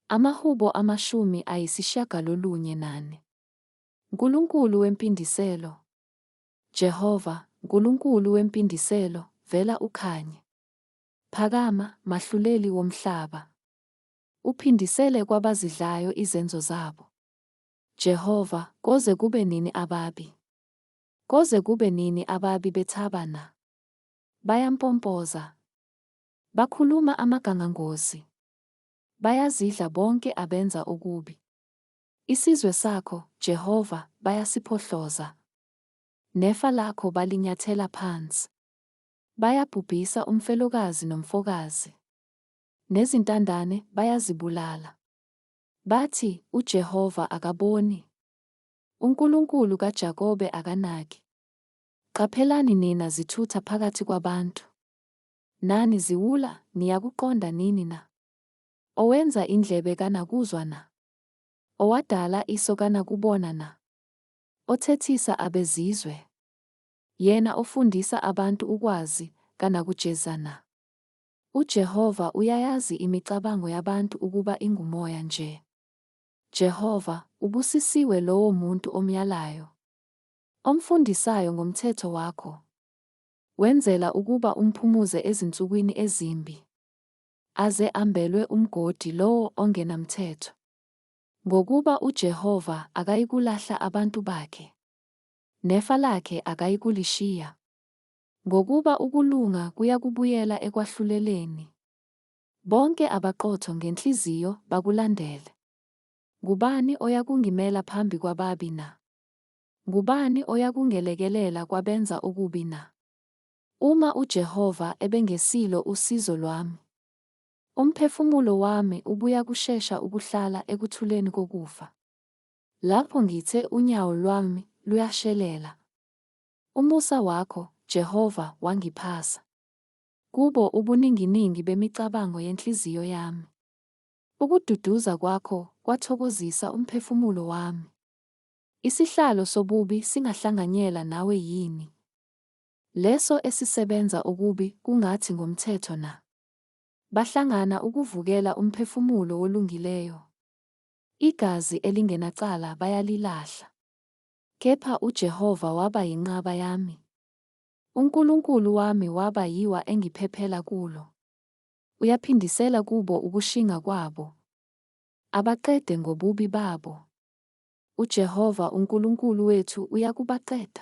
AmaHubo amashumi ayisishiyagalolunye nane. Nkulunkulu wempindiselo, Jehova, Nkulunkulu wempindiselo, vela ukhanye. Phakama, Mahluleli womhlaba. Uphindisele kwabazidlayo izenzo zabo. Jehova, koze kube nini ababi? Koze kube nini ababi bethaba na? Bayampompoza. Bakhuluma amagangangozi. Bayazidla bonke abenza okubi. Isizwe sakho, Jehova, bayasiphohloza. Nefa lakho balinyathela phansi. Bayabhubhisa umfelokazi nomfokazi. Nezintandane bayazibulala. Bathi, UJehova akaboni. UNkulunkulu kaJakobe akanaki. Qaphelani nina zithutha phakathi kwabantu. Nani ziwula, niyakuqonda nini na? Owenza indlebe kanakuzwa na? Owadala iso kanakubona na? Othethisa abezizwe, Yena ofundisa abantu ukwazi, kanakujeza na? UJehova uyayazi imicabango yabantu ukuba ingumoya nje. Jehova, ubusisiwe lowo muntu omyalayo, omfundisayo ngomthetho wakho, Wenzela ukuba umphumuze ezinsukwini ezimbi, aze ambelwe umgodi lowo ongenamthetho. Ngokuba uJehova akayikulahla abantu bakhe, nefa lakhe akayikulishiya. Ngokuba ukulunga kuyakubuyela ekwahluleleni, bonke abaqotho ngenhliziyo bakulandele. Ngubani oyakungimela phambi kwababi na? Ngubani oyakungelekelela kwabenza okubi na? Uma uJehova ebengesilo usizo lwami, umphefumulo wami ubuyakushesha ukuhlala ekuthuleni kokufa. Lapho ngithe unyawo lwami luyashelela, umusa wakho, Jehova, wangiphasa. Kubo ubuninginingi bemicabango yenhliziyo yami. Ukududuza kwakho kwathokozisa umphefumulo wami. Isihlalo sobubi singahlanganyela nawe yini? Leso esisebenza okubi kungathi ngomthetho na? Bahlangana ukuvukela umphefumulo wolungileyo. Igazi elingenacala bayalilahla. Kepha uJehova waba yinqaba yami. UNkulunkulu wami waba yiwa engiphephela kulo. Uyaphindisela kubo ukushinga kwabo, abaqede ngobubi babo. UJehova uNkulunkulu wethu uyakubaqeda.